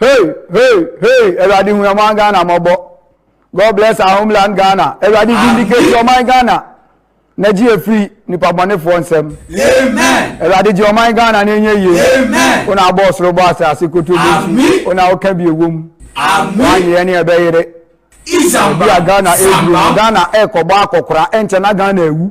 Hey, hey, hey, Eradi Huyaman Ghana Mobo. God bless our homeland Ghana. Eradi vindicate your mind Ghana. na gye afiri nipa bɔnefoɔ nsɛm awurade gye ɔman ghana no ɛnyɛ yie wo na abɔ ɔsoro bɔ asase koto bi wo na woka bi ɛwɔ mu woanyeɛ ne ɛbɛyere obi a ghana ɛduru no ghana ɛkɔbɔ akɔkora ɛnkyɛ na ghana awu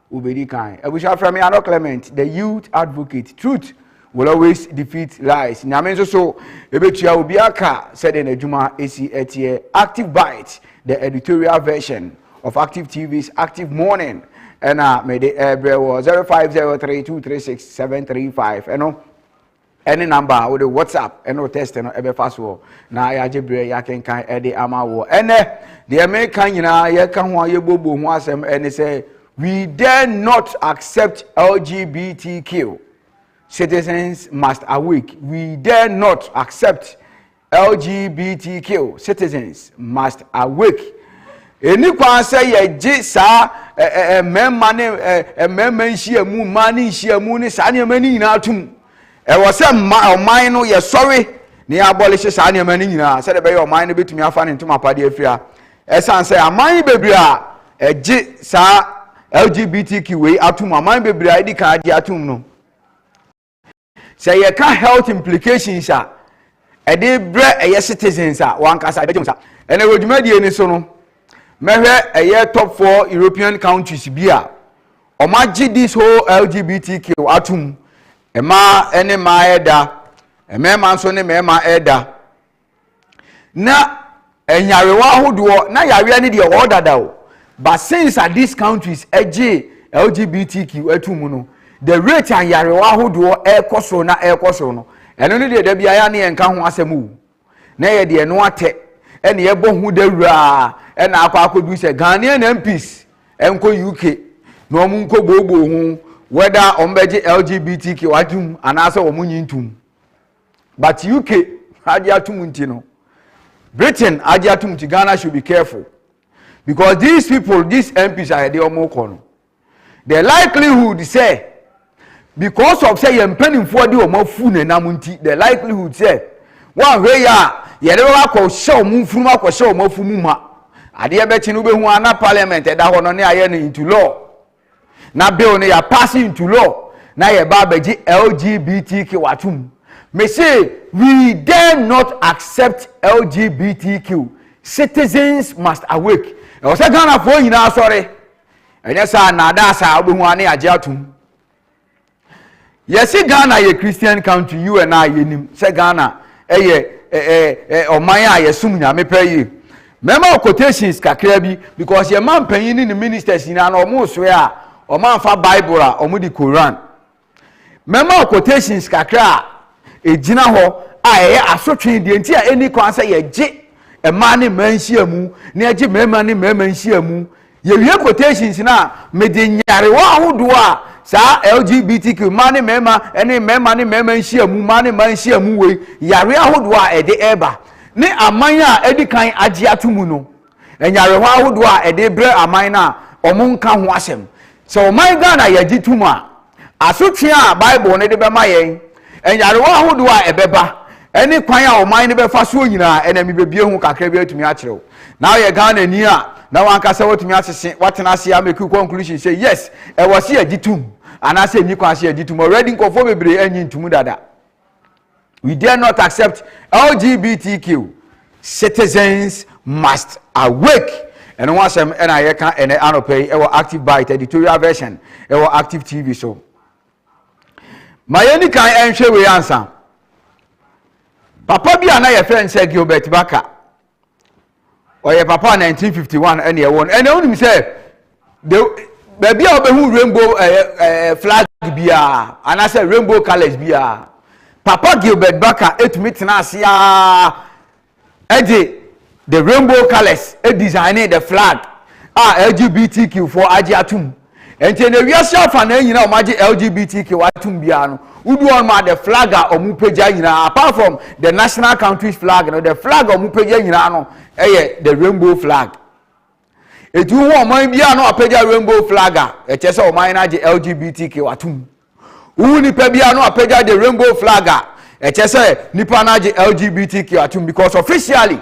Wobedi kan. Abusua frɛ me Ano Clement, the youth advocate. Truth will always defeat lies. Nyame nso so ebetua obiara ka sɛdeɛ n'adwuma esi ɛteɛ. Active Bite, the editorial version of Active TV's Active Morning ɛna mede ɛrebrɛ wɔ 0503236735 ɛno ne number a wode whatsapp ne wo text no ɛbɛfa soɔ na yɛagye berɛ yɛakenkan ɛde ama woɔ ɛnɛ deɛ meka nyinaa yɛka ho a yɛbɔbɔ ho asɛm ɛne sɛ we dare not accept lgbtq citizens must awake we dare not accept LGBTQ citizens must awake. Ɛni kwan sɛ yɛgye saa mmarima ne mmarima nhyiamu, mmaa ne nhyiamu ne saa nneɛma no nyinaa tom. Ɛwɔ sɛ mma ɔman no yɛsɔre na yɛabɔlehye saa nneɛma no nyinaa sɛdeɛ ɛbɛyɛ ɔman no bɛtumi afa ne ntomapadeɛ afiri ha. Ɛsiane sɛ aman bebree a ɛgye saa LGBTQ wei atom, aman bebree a ɛdi kan agye atom no, sɛ yɛka health implications a ɛde brɛ ɛyɛ citizens a wɔn ankasa ɛbɛgye wɔn sa ɛnna wɔ dwumadie no so no mɛhwɛ ɛyɛ top four european countries bi a wɔn agye this whole lgbtq atum mmaa ne mmaa ɛda mmarima nso ne mmarima ɛda. na nyarewa ahodoɔ na yareɛ no deɛ ɔwɔ dada o but since a these countries ɛgye lgbtq ato mu no the rate a nyarewa ahodoɔ ɛrekɔ soro na ɛrekɔ soro no ɛno no deɛ da biara ne yɛnka ho asɛm o na yɛ deɛ no atɛ ɛna yɛbɔ ho dawuraa ɛna akɔ akɔdu sɛ ghanaian mps ɛnkɔ uk na wɔn nkɔ booboo ho whether wɔn bɛgye lgbtq atom anaasɛ wɔn nyi ntom. but uk agye atum nti no britain agye atum nti ghana should be careful because these people these mps a yɛde wɔn kɔ no the likelihood sɛ because of sɛ yɛn mpanimfoɔ de wɔn afu na ɛnam nti the likelihood sɛ wɔn ahwɛ yɛ a yɛde wɔn akɔ hyɛ wɔn mfunu akɔ hyɛ wɔn afu mu ma adeɛ bɛkye no wobɛhu ana parliament ɛda hɔ no ne ayɛ no into law. na bill no yɛ pass into law na yɛba abɛgye lgbtq atom mese we dare not accept lgbtq citizens must awake ɛwɔ sɛ ghanafoɔ nyinaa sɔre ɛnyɛ saa nnaadaa saa wobɛhu ane agye atom Yɛse Ghana yɛ Christian country, you and I yɛnim sɛ Ghana ɛyɛ ɔman a yɛsom Nyame pɛ yie. Mɛma wo quotations kakra bi because yɛn ma mpanyin ne ne ministers nyinaa na wɔn soɛ a wɔn anfa Bible a wɔn de Koran. Mɛma wo quotations kakra a egyina hɔ a ɛyɛ asotwe deɛ nti a ɛni kwan sɛ yɛgye mmaa ne mmaa nhyiamu na yɛgye mmarima ne mmarima nhyiamu Yɛwie quotations no a, mede nyarewa ahodoɔ a saa LGBTQ, mmaa ne mmarima ne mmarima ne mmarima nhyiamu, mmaa ne mmaa nhyiamu wei, yareɛ ahodoɔ a ɛde ɛreba ne aman a adi kan agye ato mu no, nyarewa ahodoɔ a ɛde brɛ aman no a wɔnka ho asɛm. Sɛ ɔman Ghana yɛgye tom a, Asotwe a Bible no de bɛma yɛn, nyarewa ahodoɔ a ɛbɛba, ne kwan a ɔman no bɛfa soɔ nyinaa, ɛnna mebɛbue ho kakra bi atumi akyerɛ wo. Na woyɛ Ghanani a, na w'ankasa woatumi asese, woatena ase ama ɛku conclusion sɛ yes, ɛwɔ se yɛgye tom, anaasɛ ɛnni kwan sɛ yɛgye tom. Already nkurɔfoɔ bebree annye ntom dada. We dare not accept LGBTQ citizens must awake. ɛno ho asɛm ɛna yɛka ɛnɛ anɔpɛ yi ɛwɔ active bite editorial version ɛwɔ active tv so ma yɛni kan ɛnhwɛ wei ansa papa bi a na yɛfrɛ no sɛ gilbert baka ɔyɛ papa a 1951 ɛna ɛwɔ no ɛna wonim sɛ de baabi a wobɛhu rainbow ɛɛ eh, ɛɛ eh, flag biara anaasɛ rainbow colours biara papa gilbert baka etumi tena ase aa ɛde the rainbow colours ɛdesign the flag a lgbtq foɔ agye atum. Ɛnkyɛ na wiase afanan nyinaa a wɔagye LGBTQ atom biara no, wodu hɔ nom a the flag a wɔpagya nyinaa, apart from the national country's flag no, the flag a wɔpagya nyinaa no yɛ the rainbow flag. Eti wohu ɔman biara na wɔapagya rainbow flag a, ɛkyerɛ sɛ ɔman no agye LGBTQ atom. Wohu nipa biara no apagya the rainbow flag a, ɛkyɛ sɛ nipa no agye LGBTQ atom because officially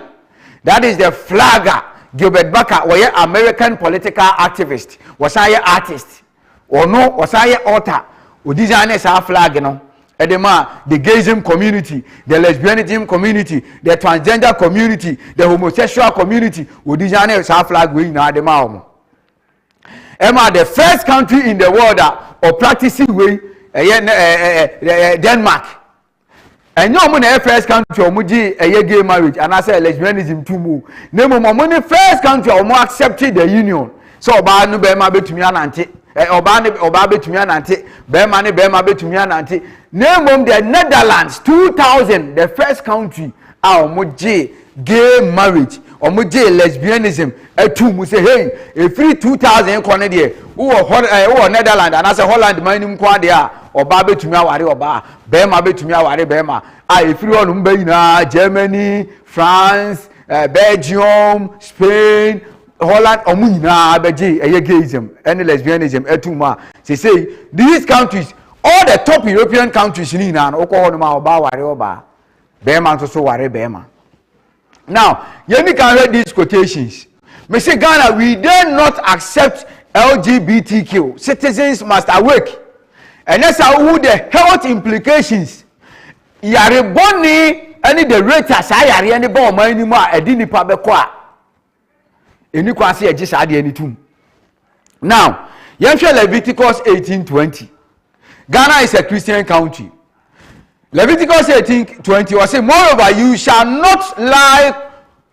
that is the flag a Gilbert Baca wɔyɛ American political activist, wɔsan yɛ artist. Ɔno ɔsan yɛ author, ɔdesign saa flag no ɛde ma the gayism community, the lesbianism community, the transgender community, the homosexual community, ɔdesign saa flag wei nyinaa de ma wɔn. ɛma the first country in the world a ɔpractice wei ɛyɛ na ɛɛ ɛɛ ɛɛ denmark ɛnyɛ wɔn na ɛyɛ first country a wɔn gye ɛyɛ gay marriage anaasɛ lesbianism tu mu na mmom wɔn ne first country a wɔn accept the union sɛ ɔbaa no bɛrima bɛtumi anante ɛ ɔbaa ne ɔbaa bɛtumi anante bɛrima ne bɛrima bɛtumi anante na mmom the netherlands two thousand the first country a wɔn gye gay marriage ɔmo gyee lesbianism ɛtoo mu sɛ hey ɛfiri 2000 kɔ no deɛ wowɔ hɔ ɛɛ wowɔ netherland anaasɛ holland man no mu kwan deɛ a ɔbaa bɛtumi aware ɔbaa bɛrima bɛtumi aware bɛrima a ɛfiri hɔ nom ba nyinaa germany france ɛɛ belgium spain holland ɔmo nyinaa bɛgye ɛyɛ gayism ɛne lesbianism ɛtoo mu a sesei these countries all the top european countries no nyinaa no wokɔ hɔ nom a ɔbaa aware ɔbaa bɛrima nso so ware bɛrima now yɛni kan hwɛ these quotations mesi ghana we dare not accept lgbtq citizens must awake ɛnɛ sa wohu the health implications yare bɔne ɛne the rate a saa yareɛ ne ba ɔman no mu a ɛde nipa bɛkɔ a ɛni kwan sɛ yɛgye saa adeɛ no tom now yɛnhwɛ leviticus 1820 ghana is a christian country leviticus 1820 ɔse moreover you shall not lie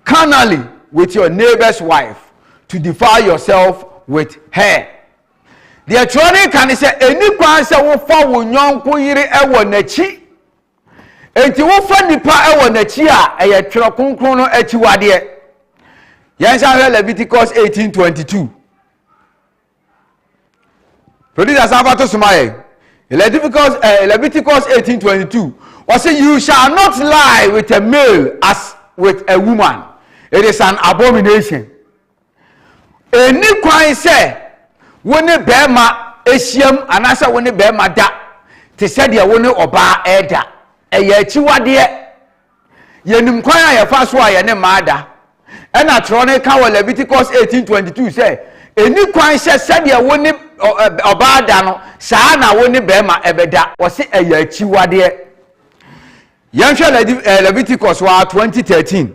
carnally with your neighbor's wife to defile yourself with her deɛ twerɛ no ka ne sɛ ɛni kwan sɛ wofa wo nyɔnko yere wɔ n'akyi Enti wofa nnipa wɔ n'akyi a, ɛyɛ twerɛ kronkron no akyiwadeɛ. Yɛnsan hwɛ Leviticus 18:22. Producer sanfa to soma yɛ. Leviticus, eh, Leviticus 18:22. Ɔsɛ, You shall not lie with a male as with a woman. It is an abomination. Ɛnni kwan sɛ wo ne barima hyiam anaasɛ wo ne barima da te sɛ deɛ wo ne ɔbaa reda. Ɛyɛ akyiwadeɛ. Yɛnim kwan a yɛfa so a yɛne mmaa da. Ɛna twerɛ no ka wɔ Leviticus 18:22 sɛ, ɛnni kwan sɛ sɛdeɛ wo ne ɔbaa da no, saa na wo ne barima bɛda. Wɔse ɛyɛ akyiwadeɛ. Yɛnhwɛ Leviticus hɔ ara 20:13.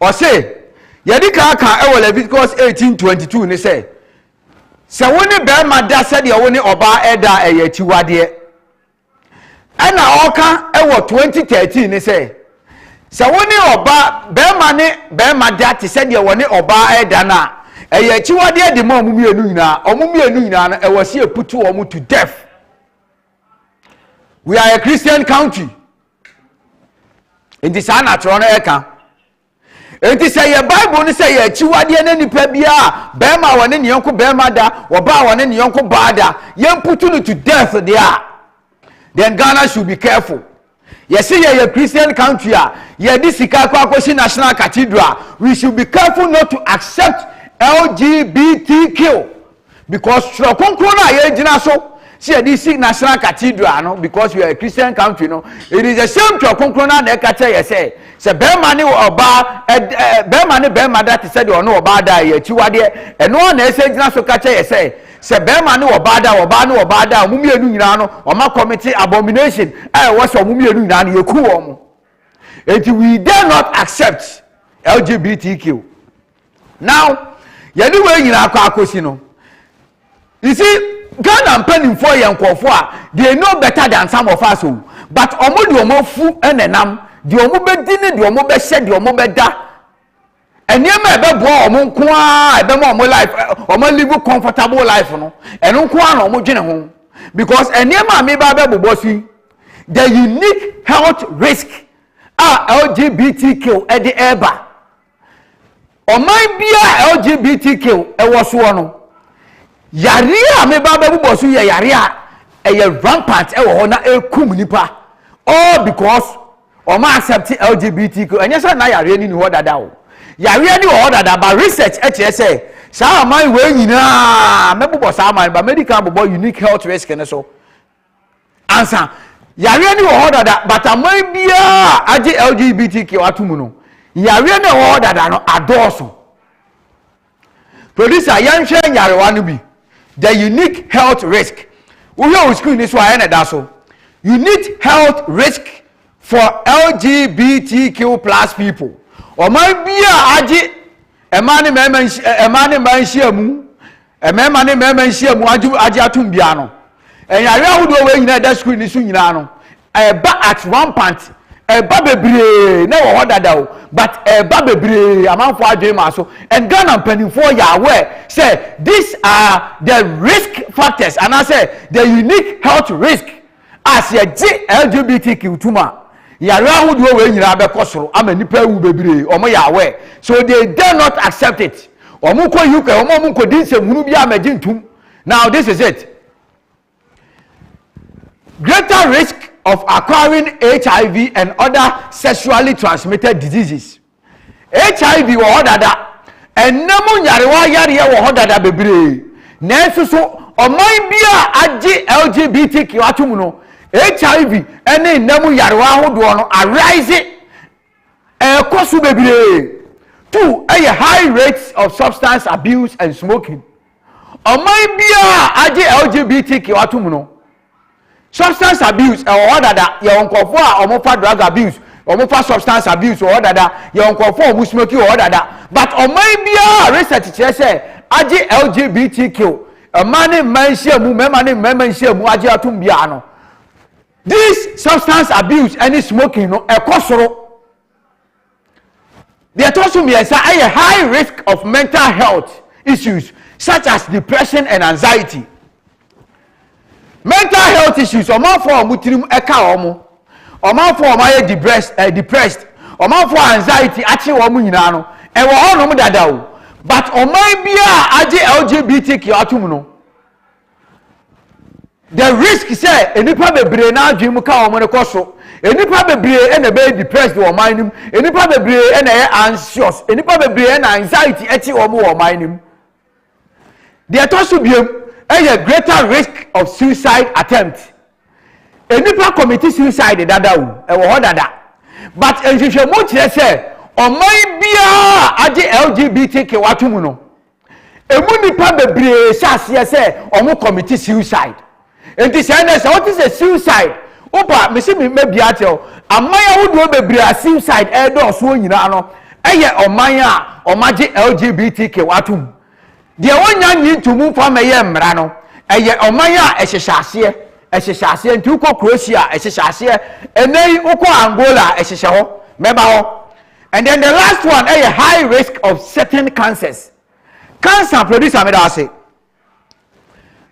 Ɔse, yɛde kan aka wɔ Leviticus 18:22 ne sɛ, sɛ wo ne barima da sɛdeɛ wo ne ɔbaa ɛda a ɛyɛ akyiwadeɛ. Ɛna ɔka wɔ 2013 ne sɛ, sɛ wo ne ɔbaa barima ne barima da te sɛdeɛ wɔne ɔbaa ɛda no a, ɛyɛ akyiwadeɛ de ma wɔn mmienu nyinaa. Wɔn mmienu nyinaa no, ɛwɔ sɛ yɛputu wɔn to death. we are a christian country nti saa na atwerɛ no ɛka nti sɛ yɛ bible no sɛ yɛ akyiwadeɛ ne nipa biara bɛrima a wɔne ne yɔnko bɛrima da wɔbaa a wɔne ne yɔnko baa da yɛmputu no to death deɛ a then ghana should be careful Yɛse yɛyɛ Christian country a yɛde sika kɔ akɔsi national cathedral a, we should be careful not to accept LGBTQ because twerɛ kronkron no a yɛgyina so sɛ yɛde si national cathedral no because we are a Christian country no, it is the same twerɛ kronkron no a na ɛka kyerɛ yɛ sɛ sɛ bɛrima ne ɔbaa ɛd ɛɛ bɛrima ne bɛrima da te sɛ deɛ ɔne ɔbaa da a ɛyɛ akyiwadeɛ, ɛno ara na ɛsɛ gyina so ka kyerɛ yɛ sɛ. Sɛ bɛɛma ne ɔbaa da a, ɔbaa ne ɔbaa da a, ɔmo mmienu nyinaa no, ɔma kɔmete abomination a ɛwɔ sɛ ɔmo mmienu nyinaa no yɛku wɔn mo. Enti we dare not accept LGBTQ. Now, yɛde wei nyinaa kɔ akosi no, you see, Ghana mpanimfoɔ yɛ nkurɔfoɔ a they know better than some of us o, but ɔmo de ɔmo afu na ɛnam, deɛ ɔmo bɛdi ne deɛ ɔmo bɛhyɛ deɛ ɔmo bɛda. nneɛma a ɛbɛboa wɔn nko ara a ɛbɛma wɔn life wɔn live comfortable life no ɛno nko ara na wɔn dwene ho because nneɛma a meba abɛbobɔ so yi the unique health risk a lgbtq ɛde ɛreba ɔman biara lgbtq ɛwɔ soɔ no yareɛ a meba abɛbobɔ so yɛ yareɛ a ɛyɛ rampant ɛwɔ hɔ na ɛkum nipa all because. Wɔn accept LGBTQ. Ɛnyɛ sɛ na yareɛ no ni hɔ dada o. Yareɛ no wɔ hɔ dada but research kyerɛ sɛ saa aman wei nyinaa mɛbobɔ saa aman but mɛdi kan bobɔ unique health risk no so. Ansa yareɛ no wɔ hɔ dada but aman biara agye LGBTQ ato mu no yareɛ no wɔ hɔ dada no adɔɔso. Producer yɛnhwɛ nyarewa no bi The unique health risk Wohwɛ wo screen no so a ɛyɛ na ɛda so Unique health risk for LGBTQ plus people Ɔman bi a agye mmaa ne mmarima mmaa ne mmaa nhyiamu mmarima ne mmarima nhyiamu agye atom biara no Ɛyare ahodoɔ wei nyinaa ɛda screen no so nyinaa no ɛba at rampant ɛba bebree na ɛwɔ hɔ dada o but ɛba bebree amanfoɔ adwene maa so and Ghana mpanimfoɔ yɛ aware sɛ these are the risk factors anaasɛ the unique health risk a sɛ yɛgye LGBTQ tom a yare ahodoɔ wei nyinaa bɛkɔ soro ama nnipa awu bebree wɔn yɛ awɛ so they dare not accept it wɔn kɔ uk wɔn a wɔn nkɔdi nsɛmhunu bi a mɛgye ntum Now this is it. Greater risk of acquiring HIV and other sexually transmitted diseases. HIV wɔ hɔ dada, ɛnam nyarewa yareɛ wɔ hɔ dada bebree. Nanso so ɔman bi a agye LGBTQ atom no, HIV ne nnam nyarewa ahodoɔ no arise ɛrekɔ so bebree to yɛ high rates of substance abuse and smoking. Ɔman biara a agye LGBTQ atom no, substance abuse ɛwɔ hɔ dada, yɛwɔ nkurɔfoɔ a wɔfa drug abuse, wɔfa substance abuse wɔ hɔ dada, yɛwɔ nkurɔfoɔ a wɔn smoking wɔ hɔ dada. But ɔman biara research kyerɛ sɛ agye LGBTQ, mmaa ne mmaa nhyiamu, mmarima ne mmarima nhyiamu agye atom biara no, This substance abuse ɛne smoking no ɛkɔ soro. Deɛ ɛtɔ so mmiɛnsa ɛyɛ high risk of mental health issues such as depression and anxiety. Mental health issues ɔmanfoɔ a wɔn tirim ɛka wɔn, ɔmanfoɔ a wɔn ayɛ depressed, eh, depressed ɔmanfoɔ a anxiety akye wɔn nyinaa no ɛwɔ hɔnom dada o but ɔman biara agye LGBTQ atom no. the risk sɛ nnipa bebree n'adwene mu ka wɔn no kɔ so nnipa bebree na ɛbɛyɛ depressed wɔ ɔman no mu nnipa bebree na ɛyɛ anxious nnipa bebree na anxiety ɛkye wɔn wɔ ɔman no mu deɛ ɛtɔ so biem ɛyɛ greater risk of suicide attempt nnipa commit suicide dada o ɛwɔ hɔ dada but nhwehwɛmu kyerɛ sɛ ɔman biara agye lgbtq ato mu no Emu nnipa bebree hyɛ aseɛ sɛ wɔn kɔmiti suicide. Enti sɛ ɛnɛ sɛ wote sɛ suicide, wopa mesi me mɛbia akyerɛ wo, aman ahodoɔ bebree a suicide ɛredɔɔsoɔ nyinaa no ɛyɛ ɔman a wɔagye LGBTQ atom. Deɛ wɔnnya nyi nto mu mfa mmɛyɛ mmara no, ɛyɛ ɔman a ɛhyehyɛ aseɛ, ɛhyehyɛ aseɛ. Nti wokɔ Croatia, ɛhyehyɛ aseɛ. Ɛnɛ yi wokɔ Angola, ɛhyehyɛ hɔ. Mɛba hɔ. And then the last one ɛyɛ eh, high risk of certain cancers. Cancer producer mi da ase.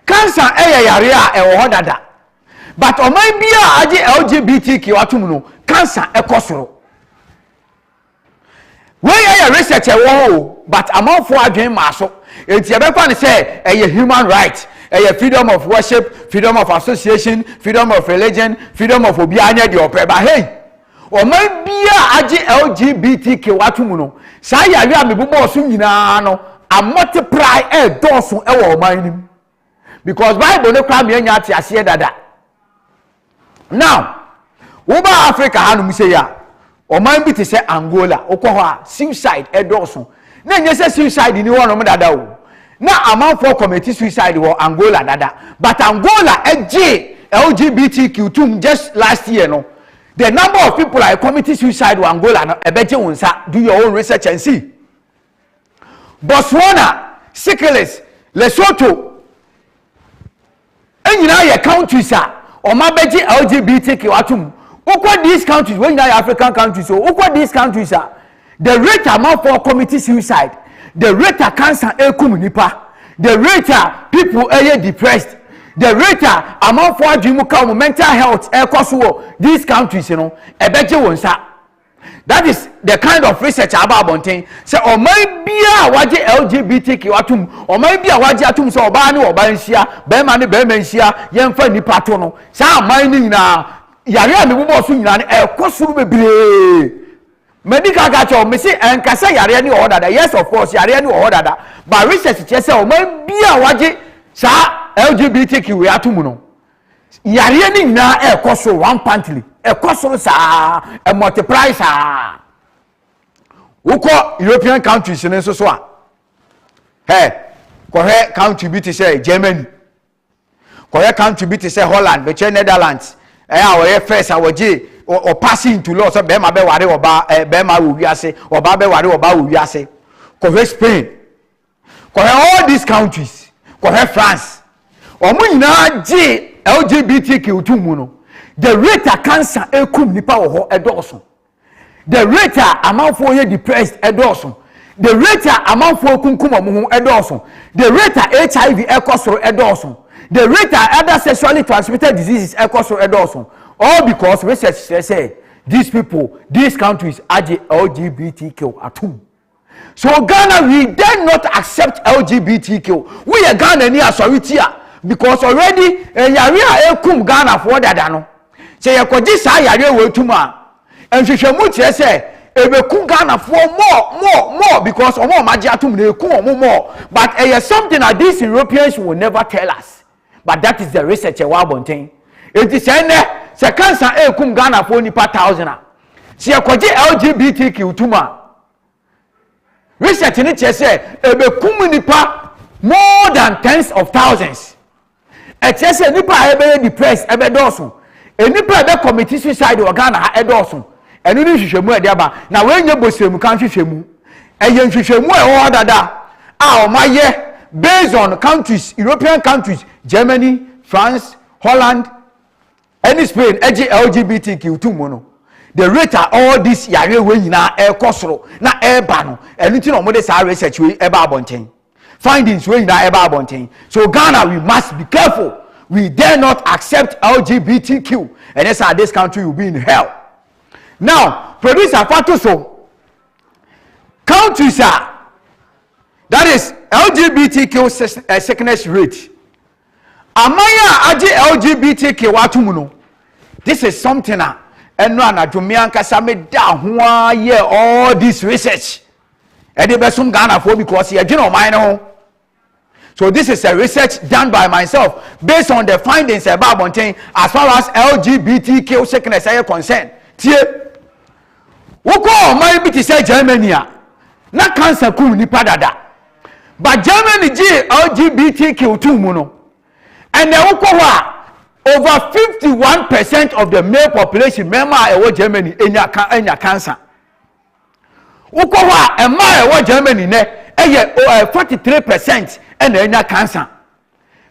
Cancer ɛyɛ eh, yare a ɛwɔ hɔ dada. But ɔman bi a agye LGBTQ atum no, cancer ɛkɔ eh, soro. Wei ɛyɛ research ɛwɔ hɔ o, but amanfoɔ adwene maa so. Eti ɛbɛfa ne sɛ ɛyɛ human right, ɛyɛ freedom of worship, freedom of association, freedom of religion, freedom of obiara nyɛ deɛ ɔpɛ. But hey. Ɔman biara a agye LGBTQ atom no, saa yare a mebobɔɔ so nyinaa no amɔteprae ɛredɔɔso wɔ ɔman no mu. Because Bible no koraa meanya ateaseɛ dada. Now, woba Africa hanom sei a, ɔman bi te sɛ Angola, wokɔ hɔ a suicide ɛdɔɔso. Na ɛnyɛ sɛ suicide ni hɔnom dada o. Na amanfoɔ kɔmɛti suicide wɔ Angola dada. But Angola ɛgye LGBTQ tom just last year no. The number of people I committed suicide wɔ Angola no ɛbɛgye wo nsa do your own research and see Botswana Sykilis Lesotho ɛnyinaa yɛ countries a ɔma bɛgye LGBTQ atom wokɔ these countries wɔn nyinaa yɛ African countries o wokɔ these countries a The rate a amanfoɔ commit suicide, the rate a cancer ɛkum nnipa, the rate a people ɛyɛ depressed, the rate a amanfoɔ adwene mu ka wɔn mental health ɛkɔ so wɔ these countries no ɛbɛgye wɔn nsa. That is the kind of research a aba abɔnten sɛ ɔman biara a wagye LGBTQ atom ɔman bi a wagye atom sɛ ɔbaa ne ɔbaa nhyia bɛrima ne bɛrima nhyia yɛmfa nnipa to no saa aman no nyinaa yare a mebobɔ so nyinaa no ɛkɔ soro bebree Madi kan aka akyerɛ wo, mese ɛnka sɛ yareɛ no wɔ hɔ dada, yes of course yareɛ no wɔ hɔ dada, but research kyerɛ sɛ ɔman bi a wɔagye saa LGBTQ wei ato mu no, yareɛ no nyinaa ɛrekɔ soro rampantly, ɛkɔ soro saa, ɛmultiply saa. Wokɔ European countries no nso so a, hɛ, kɔhwɛ country bi te sɛ Germany, kɔyɛ country bi te sɛ holland bɛkyerɛ netherlands ɛyɛ a ɔyɛ first a wɔgye ɔpaase into law sɛ bɛrima bɛware ɔbaa ɛɛ bɛrima wɔ wiase ɔbaa bɛware ɔbaa wɔ wiase kɔhwɛ spain kɔhwɛ all these countries kɔhwɛ france wɔn nyinaa gye lgbtq to mu no the rate a cancer ekum nipa wɔ hɔ ɛdɔɔso. The rate a amanfoɔ yɛ depressed ɛdɔɔso The rate a amanfoɔ kunkum wɔn ho ɛdɔɔso The rate a HIV ɛkɔ soro ɛdɔɔso The rate a other sexually transmitted diseases ɛkɔ soro ɛdɔɔso All because research kyerɛ sɛ these people, these countries agye LGBTQ atom. So Ghana we dare not accept LGBTQ wo yɛ Ghana ni asɔre ti a because already ɛyare eh, a ɛkum Ghana foɔ dada no sɛ yɛkɔgye saa yare wɔ etum a nhwehwɛmu kyerɛ sɛ ɛbɛku Ghana foɔ more more more because ɔmo ɔmo agye atom na ɛku ɔmo more but ɛyɛ something that these Europeans will never tell us. but that is the research ɛwɔ abɔnten eti sɛ ɛnɛ sɛ cancer ɛɛkum ghanafoɔ nipa thousand a sɛ yɛkɔgye lgbtq tum a research no kyerɛ sɛ ɛbɛkum nipa more than tens of thousands ɛkyerɛ sɛ nipa a ɛbɛyɛ depressed ɛbɛdɔɔso nipa a ɛbɛ commit suicide wɔ ghana ha ɛdɔɔso Ɛno ne nhwehwɛmu a ɛde aba, na wei nyɛ bɔsiremka nhwehwɛmu. Ɛyɛ nhwehwɛmu a ɛwɔ hɔ dada a wɔayɛ based on countries, European countries, Germany, France, Holland, ɛne Spain ɛgye LGBTQ to mu no. The rate a all this yareɛ wei nyinaa ɛrekɔ soro na ɛreba no, ɛno nti na wɔde saa research wei ɛba abɔnten. Findings wei nyinaa ɛba abɔnten. So Ghana we must be careful we dare not accept LGBTQ ɛnɛ saa this country will be in hell. Now producer fa to so countries a that is LGBTQ eh, sickness rate aman a agye LGBTQ ato mu no this is something a ɛno anadwo me ankasa me da ho ara yɛ all this research ɛde bɛsom ghanafoɔ because yɛdwene ɔman no ho so this is a research done by myself based on the findings ɛba abɔnten as far as lgbtq sickness ɛyɛ concern tie wokɔ ɔman bi te sɛ germany a na cancer kum nipa dada but germany gyee lgbtq tum mu no ɛnna wokɔ hɔ a over fifty one percent of the male population mmarima a ɛwɔ germany enya enya cancer Wokɔ hɔ a, mmaa a ɛwɔ Germany nnɛ, ɛyɛ o ɛɛ forty three percent na anya cancer.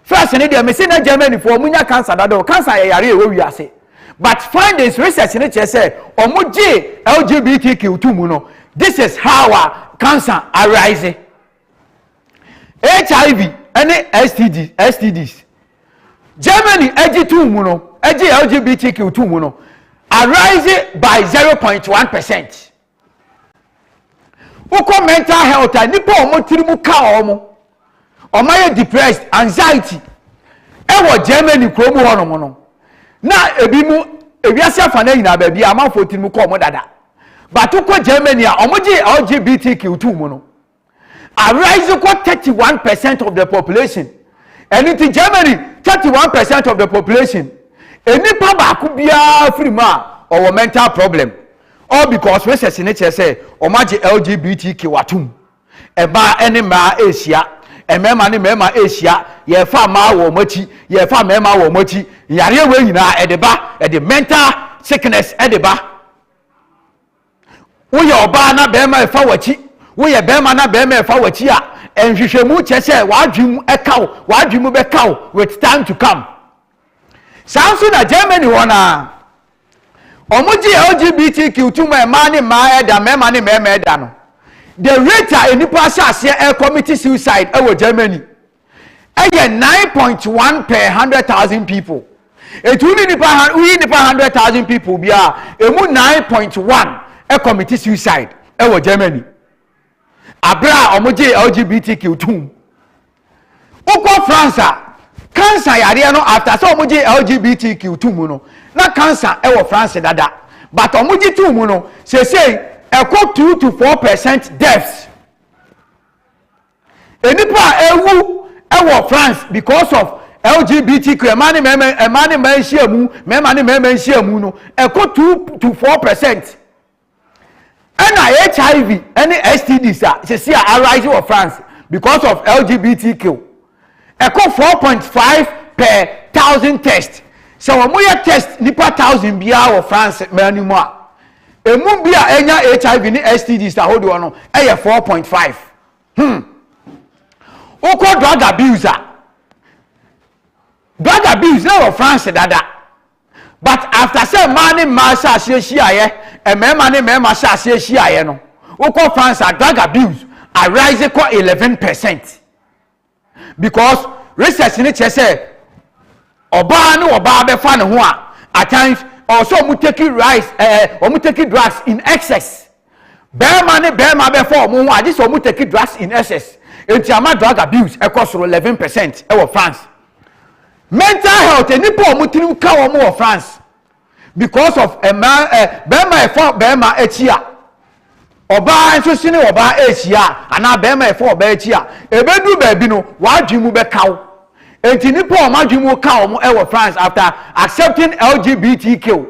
First ne deɛ, mese na Germany fo wɔn nya cancer dada o, cancer yɛ yare a ɛwɔ wiase. But findings research no kyerɛ sɛ wɔn gye LGBTQ to mu no, this is how a cancer arise. HIV ne STD, STDs. Germany agye tum mu no, agye LGBTQ tum mu no, arise by 0.1 percent. Wokɔ mental health a nipa a wɔn tiri mu ka wɔn, wɔn ayɛ depressed, anxiety, ɛwɔ Germany kurom hɔ nom no, na ebi mu ewiase afa na nyinaa baabi a amanfoɔ tiri mu kɔ wɔn dada. Bato kɔ Germany a wɔgye LGBTQ tum mu no. arise kɔ thirty one percent of the population ɛno nti Germany thirty one percent of the population nnipa baako biara firi mu a ɔwɔ mental problem all because research ne kyerɛ sɛ wɔn agye LGBTQ atum ɛbaa ne mmaa ɛrehyia mmarima ne mmarima ɛrehyia yɛrefa mmaa wɔ wɔn akyi yɛrefa mmarima wɔ wɔn akyi yareɛ wɔ nyinaa ɛde ba ɛde mental sickness ɛde ba Woyɛ ɔbaa na barima refa w'akyi, woyɛ barima na barima refa w'akyi a, nhwehwɛmu kyerɛ sɛ w'adwene mu ka wo, w'adwene mu bɛka wo with time to come. Saa nso na Germany hɔ no ara, wɔgye LGBTQ to mu a mmaa ne mmaa ɛda, mmarima ne mmarima ɛda no. The rate a nnipa ahyɛ aseɛ ɛrekɔmiti suicide ɛwɔ Germany. ɛyɛ nine point one per hundred thousand people etu ni nipa woyi nipa hundred thousand people bi a emu nine point one ɛkɔmiti suicide ɛwɔ germany abere a wɔn gye lgbtq tum wokɔ france a cancer yareɛ no after sɛ wɔn gye lgbtq tum no na cancer ɛwɔ france dada but wɔn gye tum no sese ɛkɔ two to four percent deaths. Nnipa a awu wɔ France because of LGBTQ, mmaa ne mmarima, mmaa ne mmaa nhyiamu, mmarima ne mmarima nhyiamu no, ɛkɔ two to four percent. Ɛna HIV ne STDs a sisi a arise wɔ France because of LGBTQ, ɛkɔ four point five per thousand test. Sɛ wɔyɛ test nipa thousand biara wɔ France mmaa no mu a, emu bi a ɛnya HIV ne STDs ahodoɔ no yɛ four point five. hmm wokɔ drug abuse a drug abuse na wɔ france dada but after sɛ mmaa ne mmaa hyɛ aseɛ hyiaeɛ mmarima ne mmarima hyɛ aseɛ hyiaeɛ no wokɔ france a drug abuse arise kɔ eleven percent because research no kyerɛ sɛ ɔbaa ne ɔbaa bɛfa ne ho a at times ɔwɔ sɛ ɔmo take rice ɛɛ eh, ɔmo take drugs in excess bɛrima ne bɛrima bɛfa ɔmo ho a gye sɛ ɔmo take drugs in excess eti ama drug abuse ɛkɔ soro eleven percent ɛwɔ France mental health nipa ɔmo tirim ka wɔn wɔ France because of mmaa ɛ bɛrima ɛfa bɛrima akyi a ɔbaa nso si ne ɔbaa ɛrehyia anaa bɛrima ɛfa ɔbaa akyi a ɛbɛduru baabi no w'adwene mu bɛka wo nti nipa a wɔn adwene mu ka wɔn ɛwɔ France after accepting LGBTQ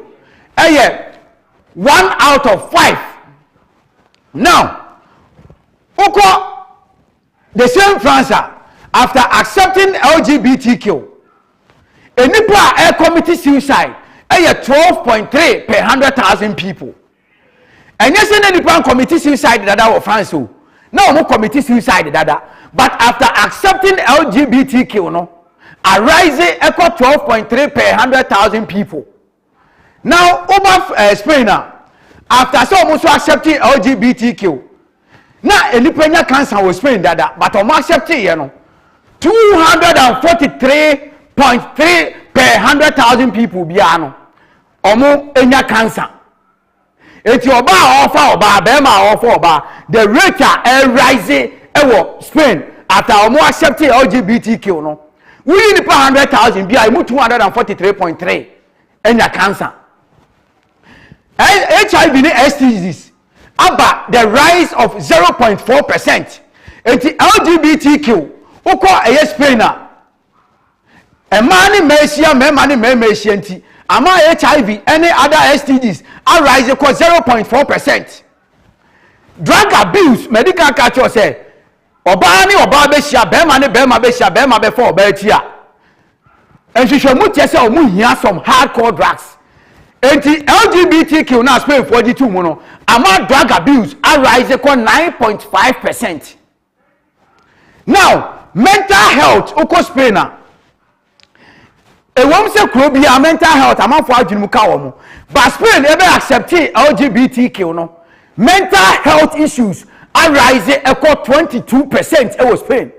ɛyɛ one out of five now wokɔ. The same France a after accepting LGBTQ, nnipa a ɛrekɔmiti suicide yɛ twelve point three per hundred thousand people. Ɛnyɛ sɛ na nnipa nkɔmiti suicide dada wɔ France o, na wɔn kɔmiti suicide dada, but after accepting LGBTQ no, arise ɛkɔ twelve point three per hundred thousand people. Now woba eh, Spain a after sɛ wɔn nso accept LGBTQ na nnipa nya cancer wɔ Spain dada but wɔn accept yɛ no two hundred and forty three point three per hundred thousand people biara no wɔn nya cancer. Enti ɔbaa a ɔrefa ɔbaa, barima a ɔrefa ɔbaa, the rate a ɛrerise wɔ Spain at a wɔn accept LGBTQ no, woyi nipa hundred thousand bi a emu two hundred and forty three point three anya cancer. HIV ne STDs aba the rise of zero point four percent. Enti LGBTQ wokɔ ɛyɛ Spain a mmaa ne mmaa ahyia, mmarima ne mmarima ahyia nti ama hiv ne other stds arise kɔ 0.4 percent drug abuse madi kan ka kyerɛ sɛ ɔbaa ne ɔbaa bɛhyia bɛrima ne bɛrima bɛhyia bɛrima bɛfa ɔbaa akyi a nhwehwɛmu kyerɛ sɛ ɔmo hia some hardcore drugs enti lgbtq na spainfoɔ gye to mu no ama drug abuse arise kɔ 9.5 percent now mental health wokɔ spain a ɛwɔm sɛ kuro biara mental health amanfoɔ adwene mu ka wɔ mo ba spain ɛbɛ accepte lgbtq no mental health issues arise ɛkɔ 22 percent ɛwɔ spain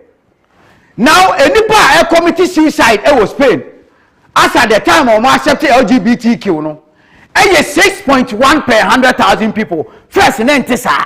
now nnipa a ɛkɔmiti suicide ɛwɔ spain as at the time wɔn accept lgbtq no ɛyɛ six point one per hundred thousand people first ne nte saa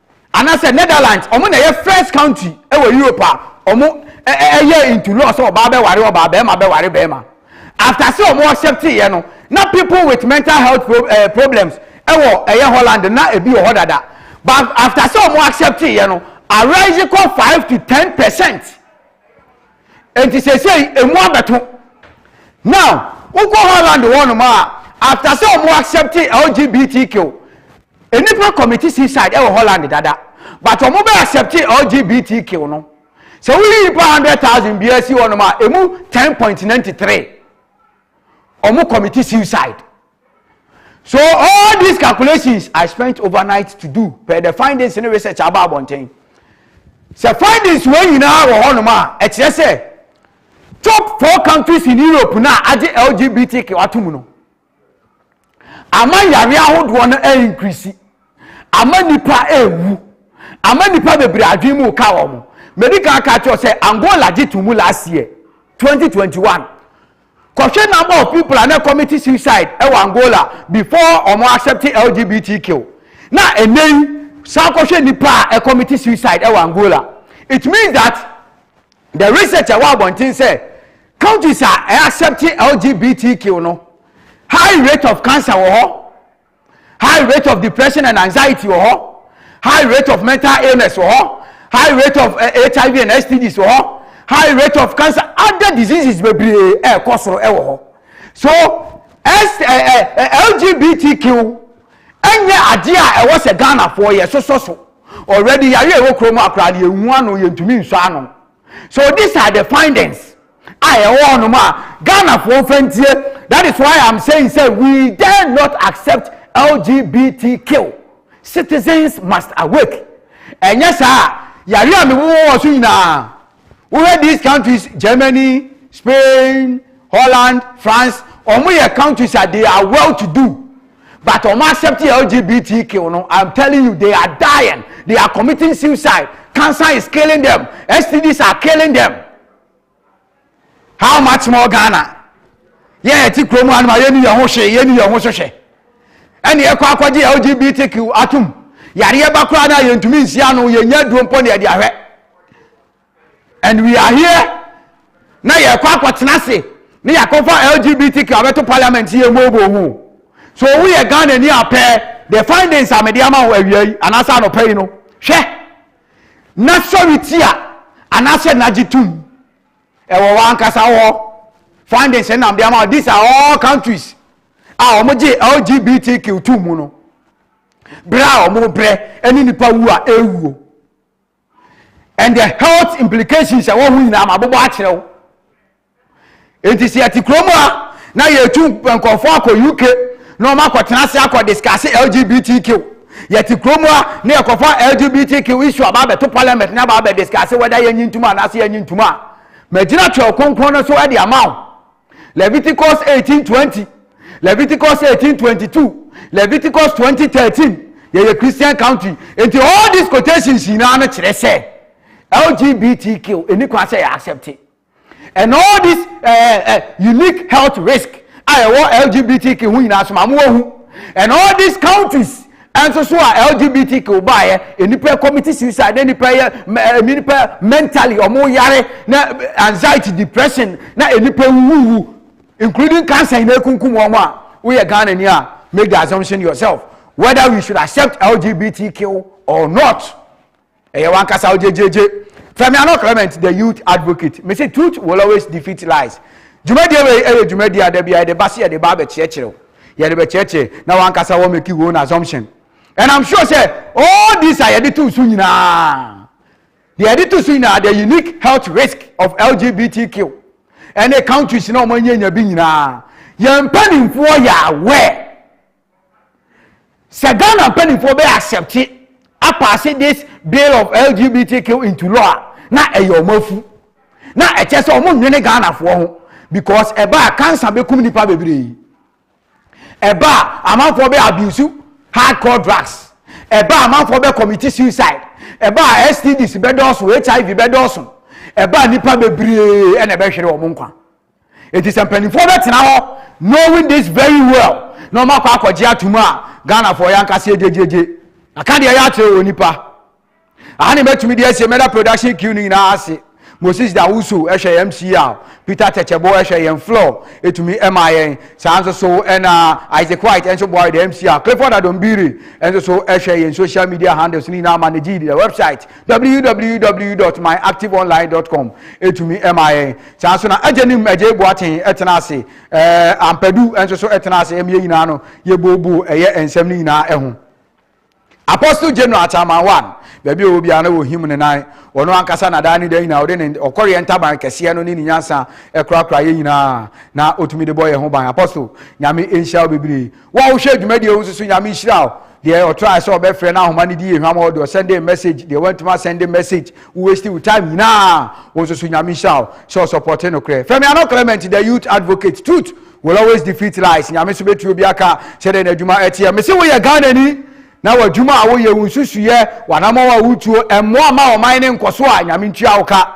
anasɛ Netherlands ɔmo na ɛyɛ first country ɛwɔ Europe a ɔmo ɛyɛ into law sɛ ɔbaa bɛware ɔbaa bɛɛma bɛware bɛɛma after sɛ ɔmo accept yɛ no na people with mental health pro, eh, problems ɛwɔ ɛyɛ Holland na ebi wɔ hɔ dada but after sɛ ɔmo accept yɛ no arise kɔ five to ten percent eti sesei emu abɛto now wokɔ Holland hɔ nom a after sɛ ɔmo accept LGBTQ Nnipa kɔmiti suicide wɔ Holland dada but wɔn bɛ accepte LGBTQ no. Sɛ woyi nnipa hundred thousand biara si hɔnom a emu ten point ninety three wɔn kɔmiti suicide. So all these calculations I spent overnight to do per the findings ne research aba abɔnten. Sɛ findings wɔ nyinaa wɔ hɔnom a ɛkyerɛ sɛ top four countries in Europe na agye LGBTQ ato mu no. ama yare ahodoɔ no increase ama nipa ewu ama nipa bebree adwene mu ka wɔn medi kan ka kyerɛ sɛ angola gye to mu last year 2021 kɔhwɛ number of people a na committee suicide ɛwɔ e angola before wɔn accept lgbtq na ɛnɛ yi san kɔhwɛ nipa a e committee suicide ɛwɔ e angola it means that the research ɛwɔ abɔnten sɛ Countries a ɛ accept LGBTQ no, high rate of cancer wɔ hɔ, high rate of depression and anxiety wɔ hɔ, high rate of mental illness wɔ hɔ, high rate of uh, eh, HIV and STDs wɔ hɔ, high rate of cancer, other diseases bebree ɛrekɔ soro ɛwɔ hɔ. So S, uh, uh, LGBTQ ɛnyɛ adeɛ a ɛwɔ sɛ Ghanafoɔ yɛ sosɔ so. Already yare ɛwɔ kurom akora no yɛhu ano yɛntumi nsɔ ano. So these are the findings a ɛwɔ hɔnom a Ghanafoɔ mfa ntie that is why I'm saying sɛ we dare not accept LGBTQ citizens must awake ɛnyɛ saa a yare a mewowɔ wɔ so nyinaa wohwɛ these countries Germany Spain Holland France wɔn yɛ countries a they are well to do. but ɔmo accept LGBTQ no I'm telling you they are dying they are committing suicide cancer is killing them STDs are killing them how much more Ghana yɛn yɛ ti kurom anum a yɛn ni yɛn ho hwee yɛn ni yɛn ho so hwɛ ɛna yɛkɔ akɔgye LGBTQ atum yareɛ ba koraa na yɛntumi nsi ano yɛnya duro mpo na yɛde ahwɛ And we are here na yɛkɔ akɔtena ase ne yɛakɔfa LGBTQ abɛto parliament yɛ mu obo ho so wo yɛ Ghana ni apɛ the findings a mede ama wo awia yi anaasɛ anɔpa yi no hwɛ na sɔre ti a anaasɛ nagye tum ɛwɔ wɔ ankasa hɔ findings nam de ama these are all countries a wɔn gye LGBTQ tum mu no brɛ a wɔn brɛ ɛne nipa wu a ɛwuo. and the health implications a ɛwɔ ho nyinaa ma abobɔ akyerɛ wo nti sɛ yɛte kurom a na yɛtu nkɔfoɔ akɔ uk na wɔn akɔtena ase akɔ discuss lgbtq yɛte kurom a na yɛkɔfa lgbtq issue aba abɛto parliament na aba abɛ discuss whether yɛnyi ntoma anaasɛ yɛnyi ntoma a magyina twɛw kronkron no so de ama wo Leviticus 18:20, Leviticus 18:22, Leviticus 20:13. Yɛyɛ Christian country. Nti all these quotations nyinaa no kyerɛ sɛ LGBTQ ɛni kwan sɛ yɛ accept it. And all this uh, eh, uh, eh, unique health risk a ɛwɔ LGBTQ ho nyinaa so ma mo wɔ ho. And all these countries Ɛnso so a LGBTQ baeɛ, nnipa commit suicide, na nnipa yɛ, nnipa mentally wɔn yare, na anxiety, depression, na nnipa wuwu, including cancer nyinaa kunkum wɔn a, woyɛ Ghana ni a, make the assumption yourself whether we should accept LGBTQ or not. ɛyɛ wankasa wo gyegyeegye fɛmi ano clement the youth advocate mesi truth will always defeat lies dwumadie wei ɛyɛ dwumadie a dabi a yɛde ba se yɛde ba abɛkyerɛkyerɛ yɛde bɛkyerɛkyerɛ na wankasa wɔ make wɔn assumption and i'm sure sɛ all these a yɛde to so nyinaa deɛ yɛde to so nyinaa the unique health risk of lgbtq ɛne countries na wɔn anyanya bi nyinaa yɛn mpanimfoɔ yɛ aware. Sɛ Ghana mpanimfoɔ bɛ accept apaase this bill of LGBTQ into law a na ɛyɛ wɔn afu na ɛkyɛ sɛ wɔn nwene Ghanafoɔ ho because ɛba a cancer bɛkum nipa bebree ɛba a amanfoɔ bɛ abuse hardcore drugs ɛba a amanfoɔ bɛ commit suicide ɛba a STDs bɛdɔɔso HIV bɛdɔɔso ɛba a nipa bebree ɛna ɛbɛhwere wɔn nkwa. eti sɛ mpanimfoɔ bɛtena hɔ knowing this very well na wɔn akɔ akɔgye atum a ghanafoɔ yɛn ankasa egyegyegye aka deɛ yɛakyerɛ wɔ nipa aha na mɛtumi deɛ ɛsɛ mɛda production queue no nyinaa ase moses dawusu ɛhwɛ yɛn mca peter tɛkyɛbo ɛhwɛ yɛn floor etumi ɛma yɛn saa nso so ɛna isaac white ɛnso boa yɛ mca clifford adombiri ɛnso so ɛhwɛ yɛn social media handles no nyinaa manage the website www.myactiveonline.com etumi ɛma yɛn saa nso na agya nim agya ebu aten ɛtena ase ɛɛ ampadu nso so ɛtena ase ɛmi yɛ nyinaa no yɛ buobuo ɛyɛ nsɛm no nyinaa ɛho apostle general ataman one baabi a ɔwɔ biara na wɔhim ne nan ɔno ankasa na daa ne da nyinaa ɔde ne ɔkɔreɛ ntaban kɛseɛ no ne ne nyansa ɛkorakora yɛ nyinaa na ɔtumi de bɔ yɛn ho ban apostle nyame nhyira wo bebree Wo a wohwɛ dwumadie wo nso so Nyame nhyira wo Deɛ ɔtrae sɛ ɔbɛfrɛ no ahoma no di yɛ hwam hɔ deɛ ɔsɛndee message deɛ wantumi asɛnde message wo waste wo time nyinaa wo nso so Nyame nhyira wo sɛ ɔsɔpɔte nokorɛ Femi Ano Clement the youth advocate truth will always defeat lies Nyame nso bɛtua obi aka sɛdeɛ n'adwuma ɛteɛ Mese woyɛ Ghanani na w'adwuma a woyɛ wo nsusuyɛ w'anamɔn a wotuo ɛmmoa mma ɔman no nkɔso a Nyame ntua wo ka.